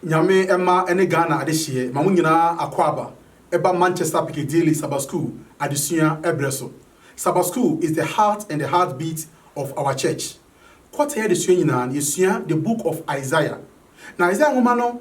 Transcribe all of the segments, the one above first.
Nyame mma ne Ghana adehyeɛ ma mo nyinaa akwaaba ɛba Manchester Piccadilly Saba School adesua ɛberɛ so. Saba School is the heart and the heart beat of our church. Quarter adesua nyinaa no yɛsua the book of Isaiah. Na Isaiah nwoma no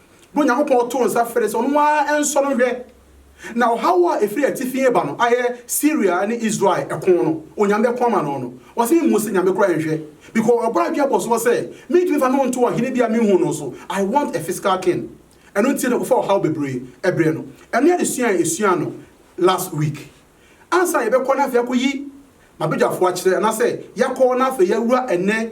na Onyankopɔn too nsa frɛɛ sɛ ɔno ara nsɔ no nhwɛ. Na ɔhaw a ɛfiri atifi reba no ayɛ Syria ne Israel ɛko no, Onyame bɛko ama no no. Ɔse me mmu se Nyame koraa nhwɛ, because ɔbɔ adwene bɔ soɔ sɛ mentumi mfa no nto ɔhene bi a menhuu no so, I want a physical king. Ɛno nti na ɔkɔfa ɔhaw bebree brɛ no. Ɛno ne adesua a yɛsuaa no last week. Ansa na yɛbɛkɔ na afei akɔyi m'abadwafoɔ akyerɛ, anaasɛ yɛakɔ na afei yɛawura ɛnnɛ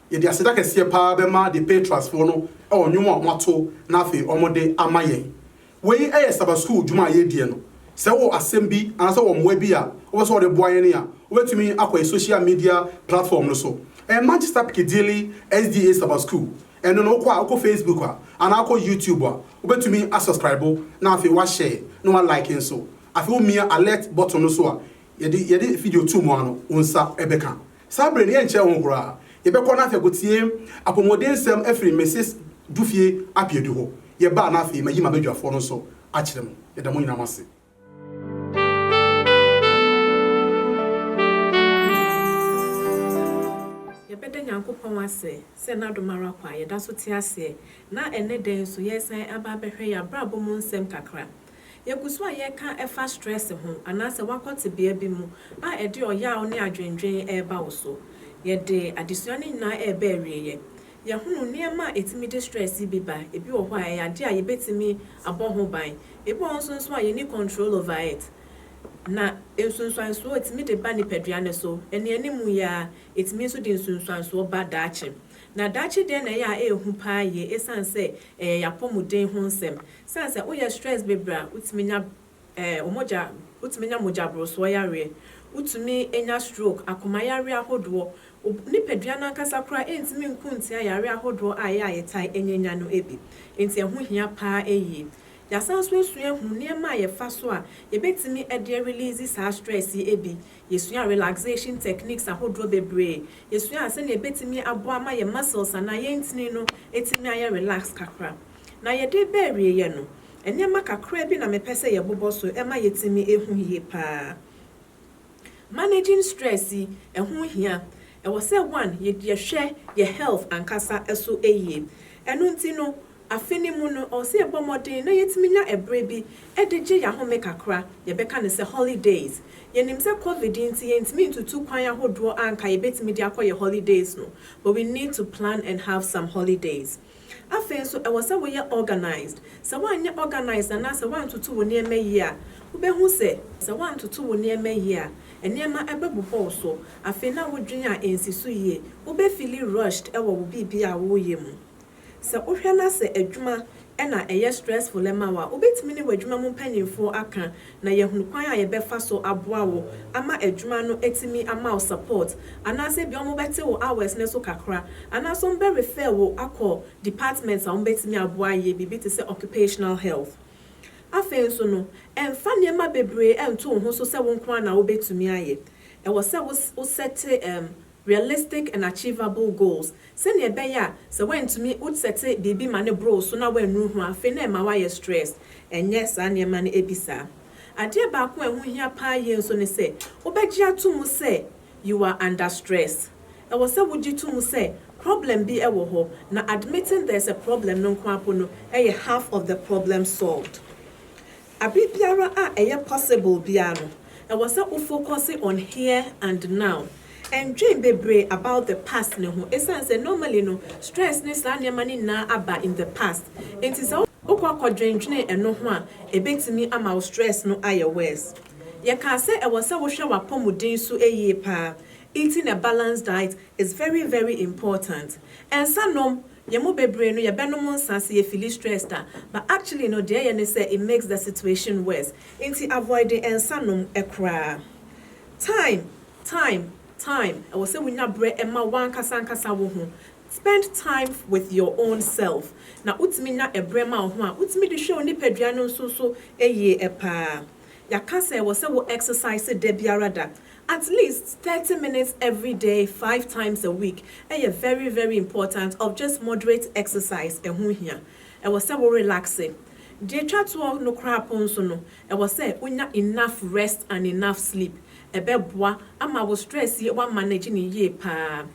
Yɛde aseda kɛseɛ paa bɛma The Patriots foɔ no wɔ nnwom a wɔato na afei wɔde ama yɛn. Wei yɛ Sabbath School dwuma a yɛrediɛ no. Sɛ wowɔ asɛm bi anaasɛ wowɔ mmoa bi a wopɛ sɛ wode boa yɛn a, wobɛtumi akɔ yɛn social media platform no so. Ɛyɛ Manchester Piccadilly SDA Sabbath School. Ɛno no wokɔ a, wokɔ Facebook a, anaa wokɔ YouTube a, wobɛtumi a subscribe na afei wa share na wa like nso. Afei womia alert button no so a, yɛde yɛde video to mu ara no, wo nsa bɛka. Saa bere no, yɛnkyerɛ ho koraa. Yɛbɛkɔ na afei akotie apɔmudensɛm afiri Misis Dufie Abiadu hɔ. Yɛba a na afei mayi m'abadwafoɔ no nso akyerɛ mo. Yɛda mo nyinaa mo ase. Yɛbɛda Nyankopɔn ase sɛ N'adom ara kwa a yɛda so te aseɛ, na ɛnnɛ da yi nso yɛresan aba abɛhwɛ yɛn abrabɔ mu nsɛm kakra. Yegu so a yɛreka fa stress ho anaasɛ woakɔ tebea bi mu a ɛde ɔyaw ne adwennwen reba wo so. Yɛde adesua no nyinaa reba awieeɛ. Yɛahunu nneɛma a ɛtumi de stress yi bi ba, ebi wɔ hɔ a ɛyɛ adeɛ a yɛbɛtumi abɔ ho ban, ebi wɔ hɔ nso nso a yɛnni control over it. Na nsunsuansoɔ a ɛtumi de ba nipadua no so ɛnea anim yi ara, ɛtumi nso de nsunsuansoɔ ba daakye. Na daakye deɛ na ɛyɛ a ɛyɛ hu pa ara yie ɛsiane sɛ ɛyɛ yɛn apɔmuden ho nsɛm. Esiane sɛ woyɛ stress bebree a, wutumi nya ɛɛ mogya, wutumi nya mogyaborosoɔ yareɛ, wotumi nya stroke, akoma yareɛ ahodoɔ. Wo nipadua no ankasa koraa ɛntumi nko ntia yareɛ ahodoɔ a ɛyɛ a yɛtae ɛnyanya no bi. Enti ɛho hia pa ara yie. Yɛasan nso asua ahunu nneɛma a yɛfa so a yɛbɛtumi de arelease saa stress yi bi. Yɛsuaa relaxation techniques ahodoɔ bebree. Yɛsuaa sɛdeɛ yɛbɛtumi aboa ama yɛn muscles anaa yɛn ntini no atumi ayɛ relax kakra. Na yɛde reba awieeɛ no, nneɛma kakraa bi na mepɛ sɛ yɛbobɔ so ma yɛtumi hu yie pa ara. Managing stress yi, ɛho hia. Ɛwɔ sɛ one, yɛhwɛ yɛn health ankasa so yie. Ɛno nti no, afe no mu no, ɛwɔ sɛ yɛbɔ mmɔden na yɛtumi nya ɛberɛ bi de gye yɛn ahome kakra, yɛbɛka no sɛ holidays. Yɛnim sɛ covid nti yɛntumi ntutu kwan ahodoɔ a anka yɛbɛtumi de akɔ yɛn holidays no, but we need to plan and have some holidays. Afei nso, ɛwɔ sɛ woyɛ organised. Sɛ woanyɛ organised anaa sɛ woantoto wo nneɛma yie a, wobɛhu sɛ. Sɛ woantoto wo nneɛma yie a, nneɛma bɛbu hɔ wo so. Afei na wodwene a ɛnsi so yie. Wobɛfili rushed wɔ wo biribiara a woreyɛ mu. Sɛ wohwɛ na sɛ adwuma na ɛyɛ stressful ma wo a, wobɛtumi ne w'adwuma mu mpanimfoɔ aka na yɛahunu kwan a yɛbɛfa so aboa wo ama adwuma no atumi ama wo support, anaasɛ ebia wɔbɛte wo hours no so kakra, anaasɛ wɔbɛ refer wo akɔ department a wɔbɛtumi aboa ayɛ biribi te sɛ occupational health. Afei nso no, mfa nneɛma bebree nto wo ho so sɛ wo nko ara na wobɛtumi ayɛ. Ɛwɔ sɛ wo wo sɛte realistic and achievable goals, sɛnea ɛbɛyɛ a sɛ woantumi wo sɛte biribi ma no boroo so na woannuru ho a afei na ɛma woayɛ stressed, ɛnyɛ saa nneɛma no bi saa. Adeɛ baako a ɛho hia paa yie nso ne sɛ wobɛgye ato mu sɛ you are under stress. Ɛwɔ sɛ wogye to mu sɛ problem bi wɔ hɔ na admitting there's a problem no nko ara mpo no yɛ half of the problem solved. Aber biara a ɛyɛ possible biara no, ɛwɔ sɛ wo focuse on here and now. Nndwen bebree about the past no ho esiane sɛ normally no stress ne saa nneɛma no nyinaa aba in the past. Enti sɛ wokɔ akɔdwendwene ɛno ho a, ɛbɛtumi ama wo stress no ayɛ worse. Yɛkaa sɛ ɛwɔ sɛ wohwɛ w'apɔmuden su yie paa, eating a balanced diet is very very important. Nsa nom! Yɛn mu bebree no yɛbɛnom nsa sɛ yɛ feeli stressed a but actually no deɛ ɛyɛ ne sɛ it makes the situation worse nti avoide nsa nom koraa time time time ɛwɔ sɛ wo nya berɛ ma wankasa ankasa wo ho spend time with your own self na wo tumi nya ɛberɛ ma wo ho a wo tumi de hwɛ wo nipadua no nso so yie paa yɛaka sɛ ɛwɔ sɛ wo exercise da biara da At least thirty minutes everyday five times a week yɛ very very important of just moderate exercise ɛho hia ɛwɔ sɛ wo relaxe deɛ ɛtwa toɔ no koraa po nso no ɛwɔ sɛ wo nya enough rest and enough sleep ɛbɛboa ama wo stress yi wa manage no yie paa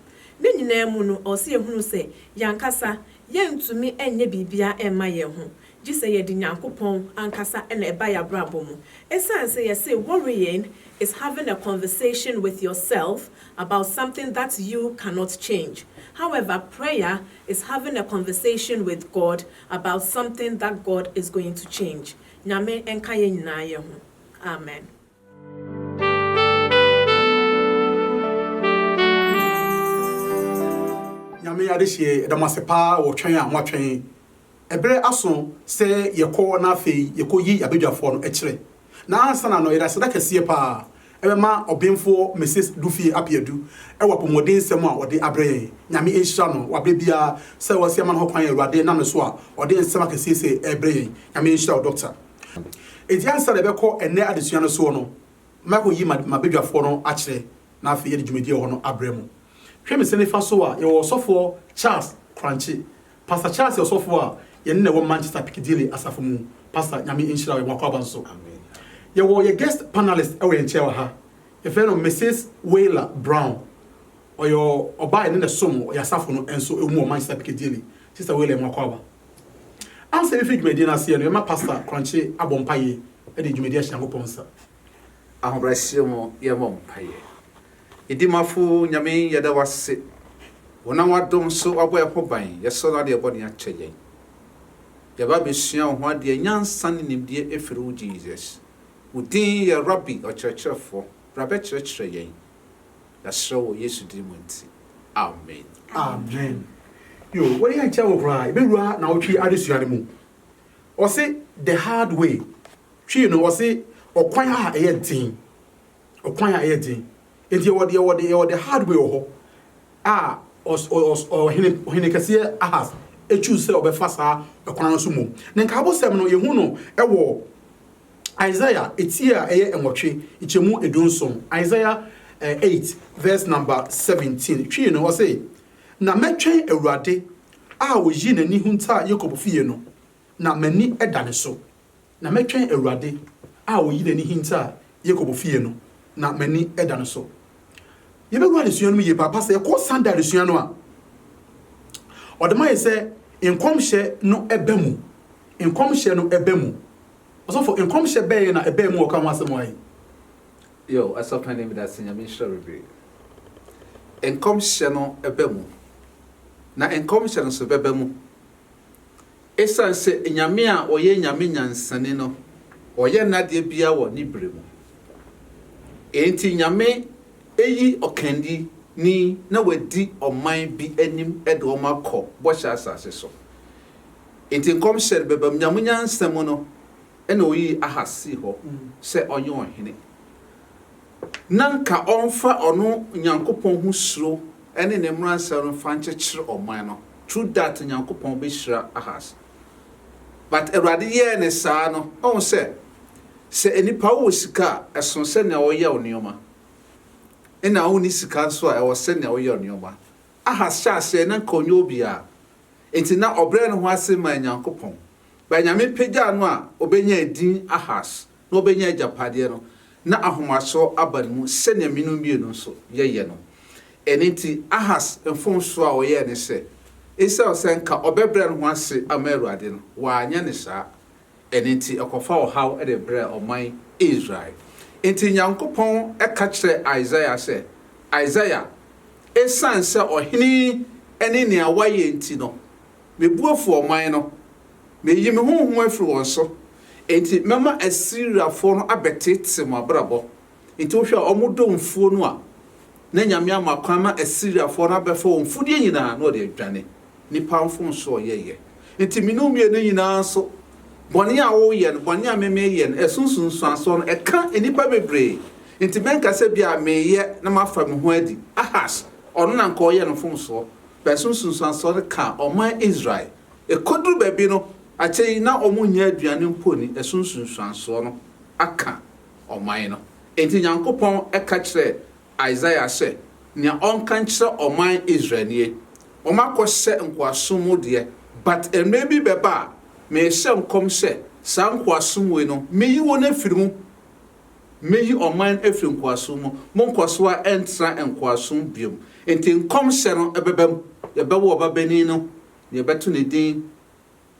ne nyinaa mu no ɛwɔ sɛ yɛhunu sɛ yɛn ankasa yɛntumi nyɛ biribiara mma yɛn ho gye sɛ yɛde Nyankopɔn ankasa na ɛba yɛn abrabɔ mu. Ɛsiane sɛ yɛse worrying is having a conversation with yourself about something that you cannot change, however prayer is having a conversation with God about something that God is going to change. Nyame nka yɛn nyinaa yɛ ho. Amen. Nyame adehyeɛ yɛda mo ase paa wɔ twɛn a moatwɛn ɛberɛ aso sɛ yɛkɔ na afei yɛkɔ yi abadwafoɔ no ɛkyerɛ na ansa na no yɛde aseda kɛseɛ paa ɛbɛma ɔbenfoɔ Mrs Dufie Apeadu ɛwɔ apɔmuden nsɛm a ɔde abrɛ yɛn Nyame nhyira no wɔ aberɛ biara sɛ wasi ama no hɔ kwan Awurade nam no so a ɔde nsɛm akɛseɛ sɛ ɛrebrɛ yɛn Nyame nhyira wo Doctor. Enti ansa na yɛbɛkɔ ɛnnɛ adesua no soɔ no, mɛkɔyi m'abadwafoɔ no akyerɛ na afei yɛde dwumadie wɔ hɔ no abrɛ mo. Hwɛ me nsa nifa so a, yɛwɔ Ɔsɔfoɔ Charles Korankye. Pastor Charles yɛ ɔsɔfoɔ a yɛne no na ɛwɔ Manchester Piccadilly asafo mu. Pastor, Nyame nhyira wo, yɛn akwaaba nso. Yɛwɔ yɛn guest panelist wɔ yɛn nkyɛn wɔ ha. Yɛfrɛ no Mrs. Wayla Brown. Ɔyɛ ɔbaa a yɛne no som wɔ yɛn asafo no nso mu wɔ Manchester Piccadilly. Sister Wayla, yɛn akwaaba. Ansa yɛbɛfiri dwumadie no aseɛ no, yɛma Pastor Korankye abɔ mpaeɛ de dwumadie ahyɛ Nyankopɔn nsa. Ahobrɛaseɛ mu yɛmmɔ mpaeɛ. Edimafo Nyame yɛda wo ase, wonam w'adom so wabɔ yɛn ho ban, yɛsɔre na wode yɛn bɔne akyɛ yɛn. Yɛaba abɛsua wo ho adeɛ, nyansa ne nimdeɛ firi wo Jesus. Wo din yɛ Rabbi, Ɔkyerɛkyerɛfoɔ, bra bɛkyerɛkyerɛ yɛn, Yɛasrɛ wɔ Yesu din mu nti, amen. Amen yo wode yɛ nkyɛe wo koraa yɛbɛwura nawɔtwe adesua no mu ɔse the hard way twi no ɔse ɔkwan a ɛyɛ den ɔkwan a ɛyɛ den nti yɛwɔ yɛwɔ yɛwɔ the hard way wɔ hɔ a ɔs ɔs ɔhene ɔhene kɛseɛ ahas ɛtwi sɛ ɔbɛfa saa ɛkwan no so mmom ne nkaabosɛm no yɛhu no ɛwɔ Isaiah etie a ɛyɛ nwɔtwe nkyɛmu eduonson, Isaiah eh, eight verse number seventeen, twi no, ɔse, Na mɛtwɛn Awurade a ɔyii n'ani huntaa Yakob fie no, na m'ani da ne so. Na mɛtwɛn Awurade a ɔyii n'ani hintaa Yakob fie no, na m'ani da no so. Yɛbɛwura adesua no mu yie paapa sɛ yɛkɔ Sunday adesua no a, ɔde ma yɛ sɛ nkɔmhyɛ no ɛbɛ mu, nkɔmhyɛ no ɛbɛ mu. Ɔsɔfo, nkɔmhyɛ bɛn na ɛbaa mu a ɔka ho asɛm wɔ ha yi? Yoh. Asapanin medase Nyame nhyira bebree. Nkɔmhyɛ no ba mu. Na nkɔmhyɛ no nso bɛba mu. Esiane sɛ Nyame a ɔyɛ Nyame nyansani no ɔyɛ n'adeɛ biara wɔ ne berɛ mu. Enti Nyame ayi ɔkanni ni na wadi ɔman bi anim de wɔn akɔ bɔhyɛ asase so. Enti nkɔmhyɛ no bɛbam. Nyame nyansa mu no na oyii Ahas sii hɔ sɛ ɔnyɛ ɔhene, na anka ɔmfa ɔno Nyankopɔn ho suro ne ne mmaransɛm no mfa nkyekyere ɔman no, through that Nyankopɔn bɛhyira Ahas. But Awurade yɛɛ no saa no, ɔhu sɛ, sɛ nnipa wowɔ sika a, ɛsono sɛnea woyɛ wo nneɛma, ɛna wonni sika nso a, ɛwɔ sɛnea woyɛ wo nneɛma. Ahas hyɛɛ aseɛ na nka ɔnyɛ obiaa, enti na ɔbrɛ ne ho ase maa Nyankopɔn. Berɛ a Nyame pagyaa no a ɔbɛnyaa edin Ahas na ɔbɛnyaa agyapadeɛ no, na ahomasoɔ aba ne mu sɛdeɛ me no mmienu nso yɛyɛ no. Ɛno nti Ahas mfomsoɔ a ɔyɛɛ ne sɛ, esiane sɛ nka ɔbɛbrɛ ne ho ase ama Awurade no, wanyɛ no saa. Ɛno nti ɛkɔfaa ɔhaw de brɛɛ ɔman Israel. Enti Nyankopɔn ka kyerɛɛ Isaiah sɛ, Isaiah, esiane sɛ ɔhene yi ne nea wayɛ nti no, me bo afu ɔman no. Meyi me honhom afiri wɔn so. Enti mɛma Asiriafoɔ no abɛteetee mo abrabɔ Enti wohwɛ a, wɔdɔ mfuo no a, na Nyame ama kwan ma Asiriafoɔ no abɛfa wɔn mfudeɛ nyinaa na wɔde adwane. Nnipa mfomsoɔ a wɔyɛeɛ nti, me ne wo mmienu nyinaa nso, bɔne a woreyɛ no, bɔne a me mereyɛ no, ɛso nsunsuansoɔ no, ɛka nnipa bebree. Enti mɛnka sɛ bi a mereyɛ na mafa me ho adi. Ahas, ɔno na anka ɔreyɛ no mfomsoɔ, but ɛso nsunsuansoɔ no ka ɔman Israel. Ɛkɔduru baabi no, akyire yi, na wɔnnya aduane mpo nni, ɛso nsunsuansoɔ no aka. ɔman no. Enti Nyankopɔn ka kyerɛɛ Isaiah sɛ nea ɔnka nkyerɛ ɔman Israel nie, Wɔakɔhyɛ nkoasom mu deɛ, but mmerɛ bi bɛba a merehyɛ nkɔm sɛ saa nkoasom wei no meyi wɔn afiri mu. Mɛyi ɔman afiri nkoasom mu, monkɔ so ara ɛntra nkoasom biom. Enti nkɔmhyɛ no bɛba mu, Yɛbɛwo ɔbabanin no, na yɛbɛto ne din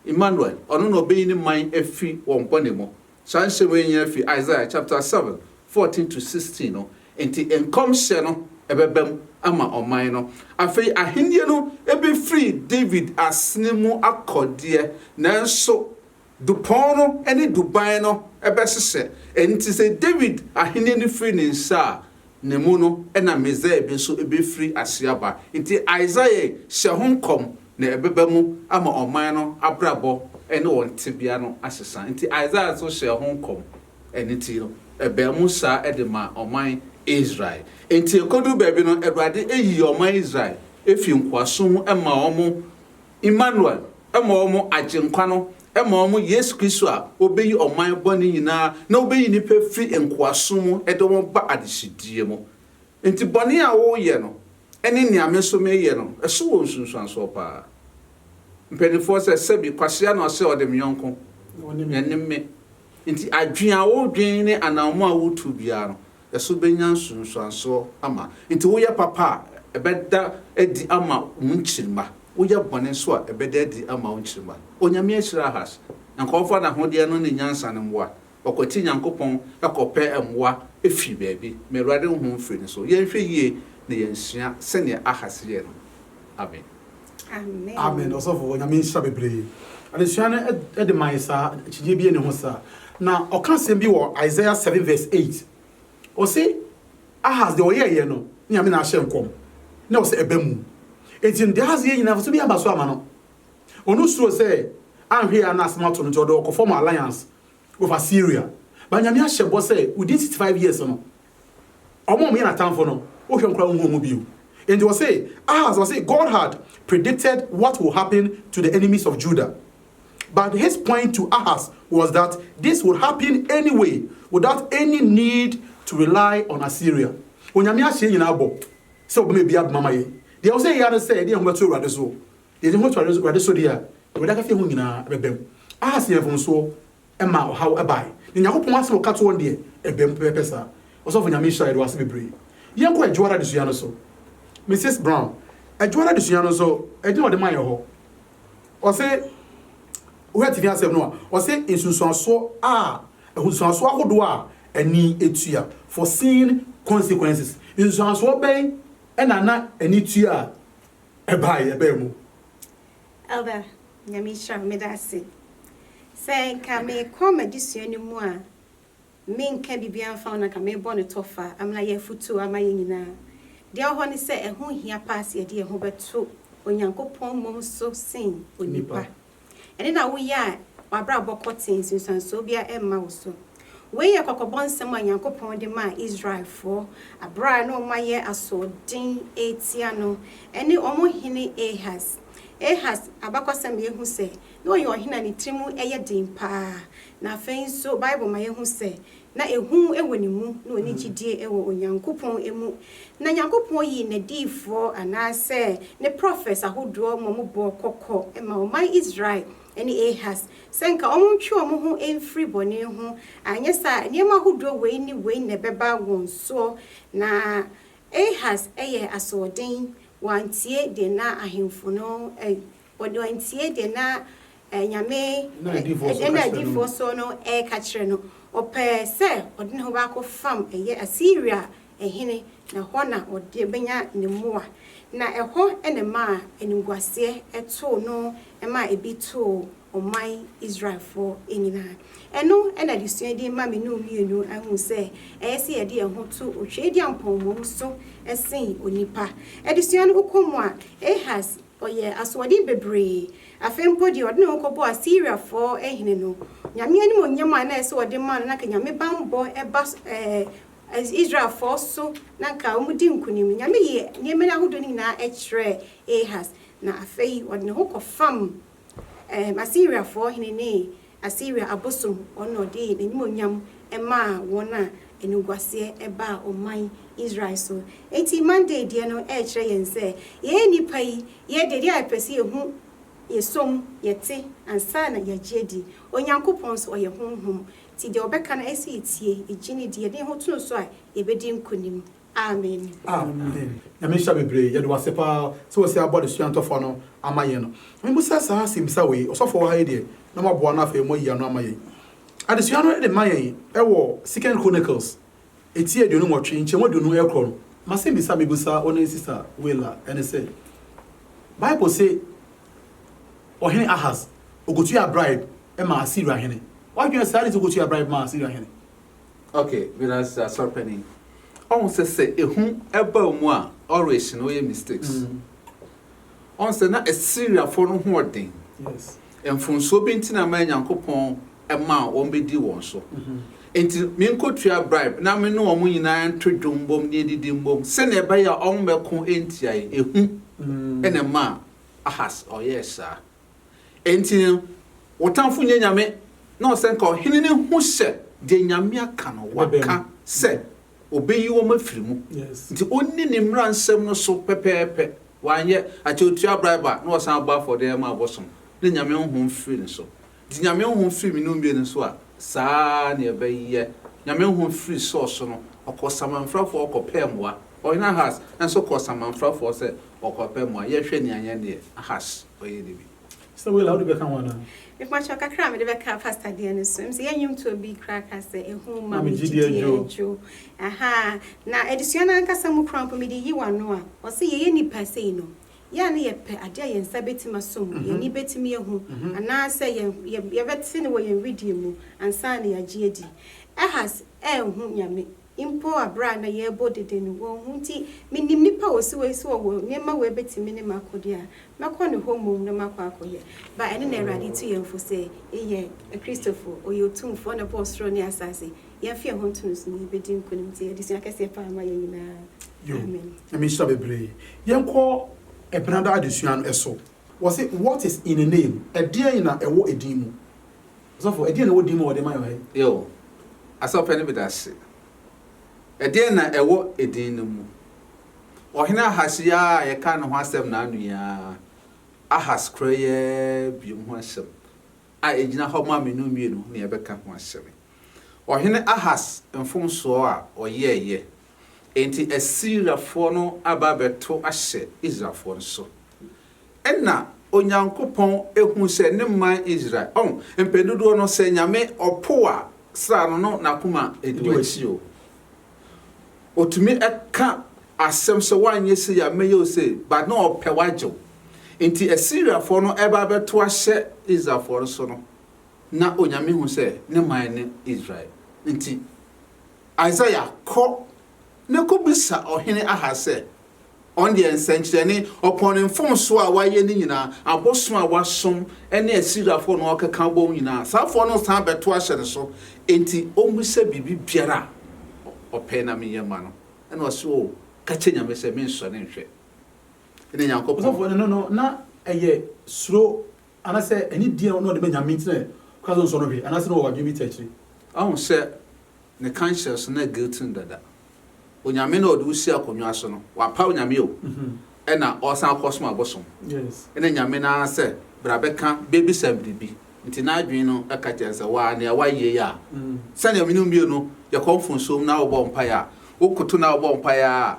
Immanuel, ɔno na ɔbɛyi ne man afiri wɔn bɔne mu. Saa nhyehyɛɛ wei nyinaa fi Isaiah chapter seven fourteen to sixteen no, enti nkɔmhyɛ no bɛba mu ama ɔman no. Afei ahennie no bɛfiri David asene mu akɔ deɛ, nanso dupɔn no ne duban no bɛhyehyɛ. Enti sɛ David ahennie no firi ne nsa a, ne mu no na Mesia bi nso befiri aseɛ aba. Enti Isaiah hyɛ ho nkɔm na ɛbɛba mu ama ɔman no abrabɔ ne wɔn tebea no asesa. Enti Isaiah nso hyɛɛ ho nkɔm, ɛno nti no ɛbaa mu saa de maa ɔman Israel. Enti ɛkɔduru baabi no Awurade yi ɔman Israel firi nkoasom mu ma wɔn. Immanuel, ma wɔn, Agyenkwa no, ma wɔn, Yesu Kristo a ɔbɛyi ɔman bɔne nyinaa na ɔbɛyi nnipa afiri nkoasom mu de wɔn aba adehyedeɛ mu. Enti bɔne a woreyɛ no ne nea me nso mereyɛ no, ɛso wɔ nsunsuansoɔ pa ara. Mpanimfoɔ sɛ, Sɛbi, Kwasea na ɔse ɔde me yɔnko, ɛne me. Enti adwene a wodwen ne anammɔn a wotu biara no, ɛso benya nsunsuansoɔ ama. Enti woyɛ papa a, ɛbɛda adi ama wo nkyirimma, woyɛ bɔne nso a, ɛbɛda adi ama wo nkyirimma. Onyame ahyira Ahas, na nka ɔmfa n'ahodeɛ no ne nyansa no mmoa. Ɔkwati Nyankopɔn kɔpɛ mmoa firi baabi. Ma Awurade honhom mfiri ne so. Yɛnhwɛ yie na yɛnsua sɛdeɛ Ahas yɛɛ no. Amen. Amen. Amen ɔsɔfo onyame nhyira bebree. Adesua no de mae saa akyideɛ bi ne ho saa. Na ɔka asɛm bi wɔ Isaiah 7 verse 8. Ɔse Ahas deɛ ɔyɛɛyɛ no ne nyame na ahyɛ nkɔm na ɔsɛ ɛbɛ mu. Enti no deɛ Ahas yɛ nyinaa so bi aba so ama no. Ɔno suro sɛ anhwɛ yɛ a na asɛm ato no nti ɔde ɔkɔfɔm alliance of Assyria ba Nyame ahyɛ bɔ sɛ within sixty five years no ɔmo a ɔmo yɛ n'atamfo no wohwɛ ɔmo koraa wonhu ɔmo bio enti ɔse Ahaz ɔse God had predicted what will happen to the enemies of Judah but his point to Ahaz was that this would happen anyway without any need to rely on Assyria Onyame ahyɛ nyinaa bɔ sɛ ɔbɛma ebi abema ma yɛn deɛ ɛwɔ sɛ yɛyɛ ara ne sɛ yɛde yɛn ho bɛto Awurade so Yɛde ho to Awurade so de a, Awurade akɛseɛ ho nyinaa bɛbam. Ahas yɛɛ mfomsoɔ maa ɔhaw bae, na Nyankopɔn asɛm a ɔka toɔ no deɛ, ɛbam pɛpɛɛpɛ saa. Ɔsɔfo Nyame nhyira, yɛde wo ase bebree. Yɛnkɔ Adwoara adesua no so. Mrs. Brown, Adwoara adesua no nso, ɛdin a wɔde mae hɔ, ɔse, wohwɛ tifi asɛm no a, ɔse nsunsuansoɔ a, nsunsuansoɔ ahodoɔ a ani tua, foreseen consequences. Nsunsuansoɔ bɛn na na ani tua? Ɛbaa yɛ baa mu. Elder Nyame nhyira wo meda ase sɛ nka me kɔ m'adesua no mu a me nka biribiara mfa ho na nka me bɔ no tɔfa amena yɛ afutuo ama yɛn nyinaa deɛ ɛwɔ hɔ ne sɛ ɛho hia paa sɛ yɛde yɛn ho bɛto Onyankopɔn mmom so sen onipa. Ɛnde na woyɛ a, w'abrabɔ kɔ tee, nsunsuansoɔ biara mma wo so. Wei yɛ kɔkɔbɔ nsɛm a Onyankopɔn de maa Israelfoɔ berɛ a na wɔayɛ asoɔden retia no ne wɔn hene Ahas. Ahas abakɔsɛm ma yɛhu sɛ, na ɔyɛ ɔhene a ne tiri mu yɛ den paa, na afei nso Bible ma yɛhu sɛ, Na ehu wɔ ne mu, na ɔnni gyidie wɔ Onyankopɔn mu. Na Nyankopɔn yii n'adiyifoɔ, anaasɛ ne prophets ahodoɔ ma wɔbɔɔ kɔkɔ maa ɔman Israel ne Ahas, sɛ nka wɔntwe wɔn ho mfiri bɔne ho, anyɛ saa a nneɛma ahodoɔ wei ne wei na ɛbɛba wɔn soɔ. Na Ahas yɛɛ asoɔden, wantie deɛ na ahemfo no Wɔde antie deɛ na Nyame ɛda no adiyifoɔ soɔ no reka kyerɛ no. Wɔpɛɛ sɛ wɔde ne ho ba kɔ fam ɛyɛ Asiria hene, na ɛhɔ na wɔde bɛnya ne mmoa. Na ɛhɔ na ɛmaa animguaseɛ too no maa ebi too ɔman Israelfoɔ nyinaa. Ɛno na adesua din ma me ne wo mmienu ahunu sɛ ɛyɛ sɛ yɛde yɛn ho to otwedeampɔn mmom so sen onipa. Adesua no wokɔ mu a, Ahas Ɔyɛɛ asoɔden bebree. Afei mpo deɛ ɔde ne ho kɔbɔɔ Asiriafoɔ hene no, Nyame animuonyam a na ɛsɛ sɛ ɔde ma no, na anka Nyame bammɔ ba Israelfoɔ so, na anka wɔdi nkonim no, Nyame yii nneɛma no ahodoɔ no nyinaa kyerɛɛ Ahas, na afei ɔde ne ho kɔfam Ɛɛ, Asiriafoɔ hene ne Asiria abosom, ɔno na ɔde n'animuonyam maa wɔn a animguaseɛ baa ɔman Israel so. Enti Monday deɛ no ɛrekyerɛ yɛn sɛ, yɛn nnipa yi, yɛ deɛ a yɛpɛ sɛ yɛhu, yɛsɔ mu, yɛte ansa na yɛagye adi. Onyankopɔn nso, ɔyɛ Honhom, nti deɛ ɔbɛka no ɛsɛ sɛ yɛtie, yɛgye no di, yɛde yɛn ho to no so a, yɛbɛdi nkonim. Amen. Amen Nyame nhyira bebree yɛde wo ase paa sɛ wasi abɔ adesua ntɔfoa no ama yɛn no me busa saa asɛmisa wei ɔsɔfo wɔ ha yi deɛ na waboa no afei mo ayi ano ama yɛn adesua no de ma yɛn ɛwɔ second chronicles ɛti aduonu nwɔtwe nkyɛmu aduonu ɛkorɔ no masɛmisa me busa wo ne sista willa ɛne sɛ bible se ɔhene ahas ɔkɔtua bribe ma assyria hene wadwene saa de sɛ ɔkɔtua bribe ma assyria hene Ok meda ase asɔre panin. Ɔhu sɛ sɛ ehu ɛba mu a ɔrehye no ɔyɛ mistakes. Mm. Ɔhu sɛ na Asiriafoɔ no ho ɔden. Yes. Mfonsoɔ bi nti na ma Nyankopɔn ɛma wɔn bɛdi wɔn so. Mm -hmm. Nti menkɔtua bribe na me ne wɔn nyinaa nto dwom mbom ne edidi mbom sɛnea ɛbɛyɛ a wɔn bɛko ntia yɛn. Ehu mm. ɛna ɛma Ahas ɔyɛɛ saa. Enti wo tamfo nyɛ nyame na ɔsɛ nka ɔhene no hu sɛ deɛ Nyame aka no waka sɛ ɔbɛyi wɔn afiri mu nti ɔnni ne mmara nsɛm no so pɛpɛɛpɛ wanyɛ a kyɛ ɔtua bribe a na ɔsan bɔ afɔdeɛ ma abosom na Nyame honhom firi ne so nti Nyame honhom firi me ne wo mmienu so a saa na ɛbɛyɛ Nyame honhom firi Saul so no ɔkɔ samanfrafoɔ hɔ kɔpɛɛ mmoa Ɔhene Ahas nso kɔɔ samanfrafoɔ sɛ ɔrekɔpɛ mmoa. Yɛnhwɛ nea yɛn deɛ Ahas ɔyɛ no bi. Sister Willa, wode bɛka ho anaa? Mepakyɛw kakra a mede bɛka pastor deɛ no so. Mese yɛn nnwomtoɔ bi koraa ka sɛ, Ehu ma me gyidie dwo. Ahaa. Na adesua no ankasa mu koraa mpo mede yi w'ano a, ɔse yɛyɛ nnipa sei no, yɛ a na yɛpɛ adeɛ a yɛn nsa bɛtumi aso mu, yɛn ani bɛtumi ahu, anaasɛ yɛn yɛbɛte no wɔ yɛn wedeɛ mu ansa na yɛagye adi. Ahas anhu Nyame. Mpo bere a na yɛrebɔ dede no, wɔn ho nti, minim nipa a osiw ahi sɛ ɔwɔ nneɛma wei betumi ne m'akode a, mɛkɔ ne hɔ mmom na makɔ akɔyɛ. Ba, ɛno na Awurade tu yɛn fo sɛ yɛnyɛ Kristofo. Ɔyɛ Otumfoɔ na ɔbɔɔ soro ne asase. Yɛmfa yɛn ho nto no so na yebedi nkonim. Tie adesua kɛseɛ paa ma yɛn nyinaa. Yo, Amen. Nyame nhyira bebree. Yɛnkɔ Ɛbenada adesua no so. Wɔse, What is in a name? Ɛdeɛn na ɛwɔ edin mu? Ɔsɔfo, ɛdeɛn na ɛwɔ din mu a wɔde rema yɛn ha yi? Yoh. Asafo pɛ no bi da ase. Ɛdeɛn na ɛwɔ edin no mu? Ɔhene Ahas yi ara a yɛkaa ne ho asɛm naano yi ara, Ahas korɔ yi ara biom ho asɛm a ɛgyina hɔ ma me no mmienu na yɛbɛka ho asɛm. Ɔhene Ahas mfomsoɔ a ɔyɛeɛ Enti Asiriafoɔ no aba abɛto ahyɛ Israelfoɔ no so. Ɛnna Onyankopɔn hu sɛ ne man Israel, ɔn, mpɛn dodoɔ no, sɛ Nyame ɔpo a, sra no no n'akoma di w'akyi o. Ɔtumi ka asɛm sɛ woanyɛ sei a, mɛyɛ wo sei, but na ɔpɛ wagye wo. Enti Asiriafoɔ no ɛba abɛto ahyɛ Israelfoɔ no so no, na Onyame hu sɛ ne man ne Israel nti. Isaiah, kɔ na kɔbisa ɔhene Ahas sɛ, ɔno deɛ nsɛnkyerɛnne, ɔpɔn ne mfomsoɔ a wayɛ no nyinaa, abosom a wasom ne Asiriafoɔ na ɔrekeka abom nyinaa, saa afoɔ no resan abɛto ahyɛ ne so, enti ɔmmisa biribi biara a ɔpɛ na menyɛ mma no. Ɛnna ɔse, O, ka kyerɛ Nyame sɛ mensɔre nhwɛ ne Nyankopɔn. Ɔsɔfoɔ no no, na ɛyɛ suro Anasɛ ɛnye deɛ na ɔde ma Nyame nti na ɔka sɛ ɔnsɔ no hwee, anasɛ na ɔwɔ adwene bi ta akyire? Wahu sɛ ne conscience no guilty no dada. Onyame no a ɔde wo sii akonnwa so no, wapaw Nyame o, ɛna ɔresan akɔsom abosom. Ɛna Nyame no ara sɛ, bra bɛka, bɛbisa biribi. Nti n'adwene no ka kyerɛ no sɛ, waa, nea woayɛ yi a, sɛnea me ne wo mmienu yɛkɔ mfomsoɔ mu na wobɔ mpaeɛ a, wokoto na wobɔ mpaeɛ ara a,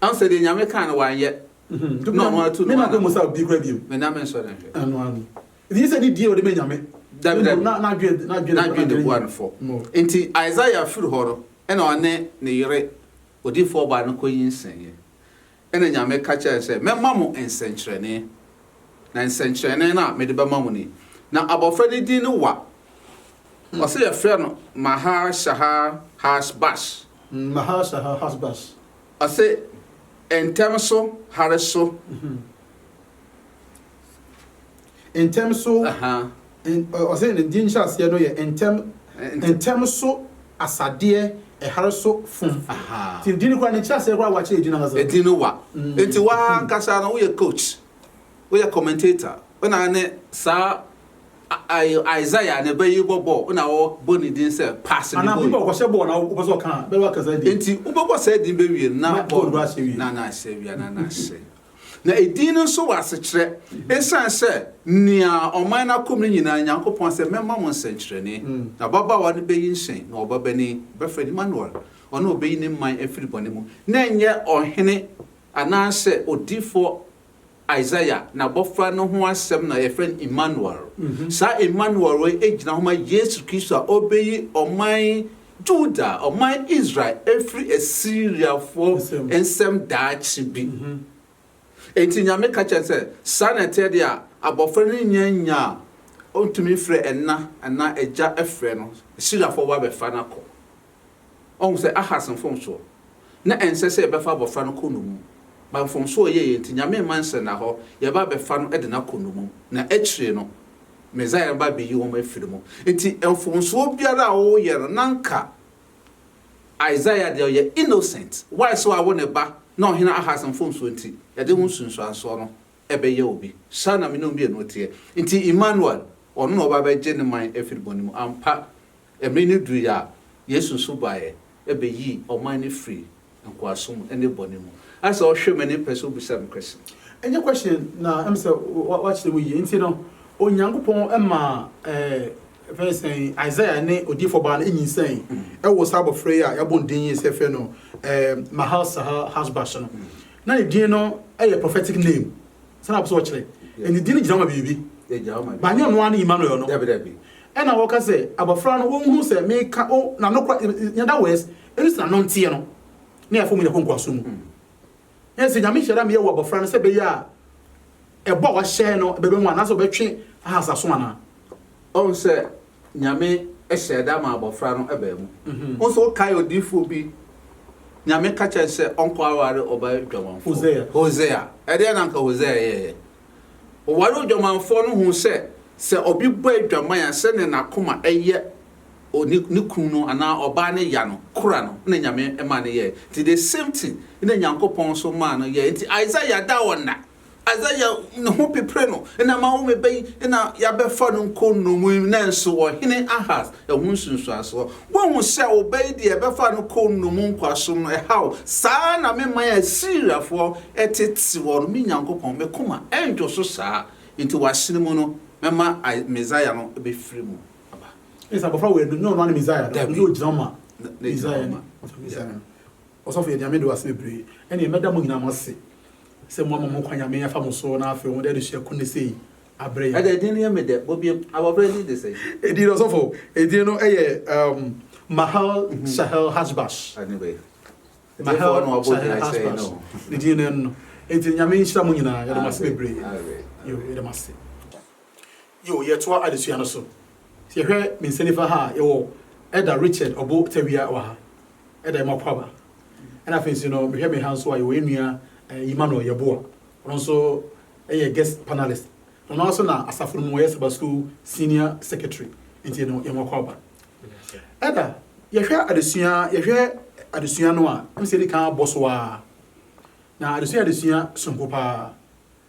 Ansa deɛ Nyame kaa no wanyɛ na ɔno atu no ana? Mena mmusa obi koraa bio. Mena mensɔre nhwɛ. Ɛno ara no. Nti ɛsɛ ne die a ɔde ma Nyame. Dabi dabi. Na n'adwene n'adwene de boa no fɔ. Nti Isaiah firi hɔ no ɛna ɔne ne yere odiyifoɔ baa no kɔnyinsɛneɛ. Ɛna Nyame ka kyerɛɛ no sɛ, Mɛma mo nsɛnkyerɛnne. Na nsɛnkyerɛnne no a mede bɛma mo nie. Na abɔfra no din ne Wa. Ɔse yɛfrɛ no Mahar Shahar Harsh Bash. Mm Mahar Shahar Harsh Bash. Ɔse ntɛm so hare so. Ntɛm so, ɔse ne din nhyɛaseɛ no yɛ ntɛm, ntɛm so asadeɛ ɛhare so fom. Nti din no koraa ne nkyerɛaseɛ koraa wa kyerɛ din ankasa. Edin no wa. Nti waa ankasa no woyɛ coach, woyɛ commentator, wona ne saa Isaiah ne ba yi bɔbɔ na wɔbɔ ne din sɛ Pass ne Boy. Enti wobɛbɔ saa din bɛwie no na bɔ no na na ahyɛ awia na na ahyɛ. Na edin no nso wɔ asekyerɛ esiane sɛ nea ɔman no akɔm no nyinaa Nyankopɔn sɛ mɛma mo nsɛnkyerɛnne. Na ababaawa no bɛyi nhyɛn na ɔbabanin, bɛfrɛ no Immanuel, ɔno na ɔbɛyi ne man afiri bɔne mu. Na ɛnyɛ ɔhene anaasɛ odiyifoɔ Isaiah n'abɔfra no ho asɛm na yɛfrɛ no Immanuel. Saa Immanuel wei gyina hɔ ma Yesu Kristo a ɔbɛyi ɔman Juda, ɔman Israel, afiri Asiriafoɔ nsam daakye bi. Enti Nyame ka kyerɛ no sɛ, saa na ɛteɛ deɛ a, abɔfra no nnya nya a ɔntumi mfrɛ ɛna anaa agya frɛ no, Asiriafoɔ bɛba abɛfa no akɔ. Ɔhu sɛ Ahas mfomsoɔ, na ɛnsɛ sɛ yɛbɛfa abɔfra no kɔ nnommum. But mfomsoɔ a ɔyɛeɛ nti, Nyame mma nhyɛda hɔ, yɛba abɛfa no de no akɔ nnommum, na akyire no, Messiah no ba abɛyi wɔn afiri mu. Nti mfomsoɔ biara a ɔreyɛ no, na anka Isaiah deɛ ɔyɛ innocent. Why? Sɛ wawo ne ba, na Ɔhene Ahas mfomsoɔ nti, yɛde ho nsunsuansoɔ no. ɛbɛyɛ obi. Saa na me ne wo mmienu teɛ. Nti Immanuel, ɔno na ɔba bɛgye ne man afiri bɔne mu. Ampa, mmere no duruiɛ a Yesu nso baeɛ bɛyii ɔman no firii nkoasom mu ne bɔne mu. Ayɛ sɛ ɔhwɛ m'ani mpɛ sɛ ɔbisa me question. Ɛnyɛ question na ɛm sɛ woakyerɛ mu yie. Nti no Onyankopɔn ma yɛfrɛ no sɛn Isaiah ne odiyifoɔ baa no nyinsɛn wɔ saa abɔfra yi a yɛabɔ no din yi sɛ yɛfrɛ no Mahal-sahal-hasbas no. Na ne din no yɛ prophetic name sɛ na ɔpɛsɛ ɔkyerɛ ɛ ne din no gyina ma biribi ba nyɛ ɔno ara ne Emmanuel no ɛna wɔka sɛ abɔfra no wɔnhunu sɛ meka o na no kora in other words ɛnu sɛ na no nteɛ no ne afɔ mu nyɛ kɔ nkoaso mu ɛna sɛ nyame hyɛda meyɛ wɔ abɔfra no sɛ bɛyɛ a ɛbɔ a wahyɛ no bɛbɛ mu anaasɛ ɔbɛtwe ahasaso anaa ɔn sɛ Nyame hyɛɛ da maa abɔfra no baa mu. Wo nso wokae odiyifoɔ bi, Nyame ka kyerɛɛ no sɛ ɔnkɔ aware ɔbaa adwamanfoɔ, Hosea. Ɛdeɛn na anka Hosea yɛeɛ? Ɔwaree odwamanfoɔ no huu sɛ, sɛ obi bɔ adwaman a, sɛdeɛ n'akoma yɛ ne kunu no anaa ɔbaa no ya no, kora no, na Nyame maa no yɛeɛ. Nti the same thing na Nyankopɔn nso maa no yɛeɛ. Nti Isaiah da ɔnna. Azaria ne ho pepere no na ama wo me ba yi na yɛabɛfa no nkɔ nnommum mu, nanso ɔhene Ahas ho nsunsuansoɔ. Woahu sɛ wo ba yi deɛ ɛbɛfa no kɔ nnommum nkoasom no, ɛha wo. Saa ara na me man a Asiriafoɔ tete hɔ no, me Nyankopɔn, me koma rentwo so saa. Enti w'asene mu no, mɛma Mesia no bɛfiri mu aba. Ɛne sɛ abɔfra wei no, nyɛ ɔno ara ne Mesia no, na ɔnyɛ ogyina ma Mesia no. Ɔsɔfo Yeremia, mede w'asɛm bebree, ɛnneɛ mɛda mo nyinaa mo ase. sɛ moama mo kwan Nyame afa mo so na afei mode adesua ko nnɛ sei abrɛ yɛn. Ɛdɛ din no yɛ me dɛ, bɔ biom, abɔfra din de sɛn? Edin no ɔsɔfo, edin no yɛ um, Mahal Shahel Hashbash. Ɛne bɛ. Mahal Ɛdefoɔ na wabɔ Shahel din akyerɛ yɛn Hashbash. no. Ne din no ɛno no. Enti Nyame nhyira mo nyinaa, yɛda mo ase Amen. bebree. Amen. Yo, yɛda mo ase. Yo, yɛtoa adesua no so. Sɛ yɛhwɛ me nsa nifa ha a, yɛwɔ Elder Richard Obo Tawia wɔ ha, Elder Emma Kwaba. Ɛna afei nso no, mehwɛ me ha nso a, yɛwɔ yɛn nua eh, Emmanuel Yeboah. Ɔno nso yɛ guest panelist. Na ɔno nso na asafo no mu ɔyɛ Saba School Senior Secretary. Nti no, yɛn wakɔ aba. Ɛda, yɛhwɛ adesua, yɛhwɛ adesua no a, ɛm sɛ yɛdi kan abɔ so ara. Na adesua yɛ adesua sononko paa.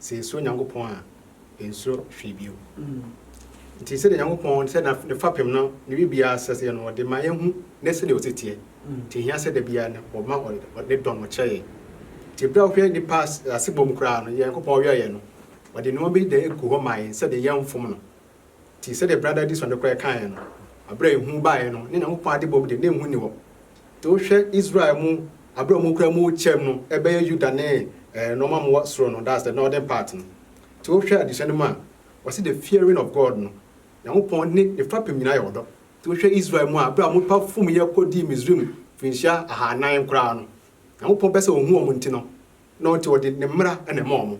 Sɛ yesuro Nyankopɔn a, yensuro hwee bio. Nti sɛdeɛ Nyankopɔn sɛ ne fapem no ne biribiara sɛ sɛ no, ɔde ma yɛhu ne sɛdeɛ ɔsi teɛ. Nti ehia sɛ da biara no wɔma ne dɔ no ɔkyerɛ yɛn. Nti berɛ a wohwɛ nnipa asebɔ mu koraa no, Nyankopɔn ɔyɔeɛ no, ɔde nneɛma bi da egu hɔ maa yɛn sɛdeɛ yɛnfom no. Nti, sɛdeɛ Brada Addison no koraa kaeɛ no, berɛ a ehu baeɛ no, ne Nyankopɔn adebɔ mu deɛ, na ehu nni hɔ. Nti wohwɛ Israel mu, berɛ a wɔkura mu rekyɛm no, ɛbɛyɛ Yuda ne nnoɔma a wɔwɔ soro no, that's the northern part no. Nti wohwɛ adesua no mu a, wɔse the fearing of God no, Nyankopɔn ne ne fapem nyinaa yɛ ɔdɔ. Nti wohwɛ Israel mu a, berɛ a wɔpa fomyɛ kɔdii Misraim mfirinhyia ahanan koraa no, Nyankopɔn pɛ sɛ ɔhu wɔn nti no, na ɔnti ɔde ne mmara na ɛma wɔn.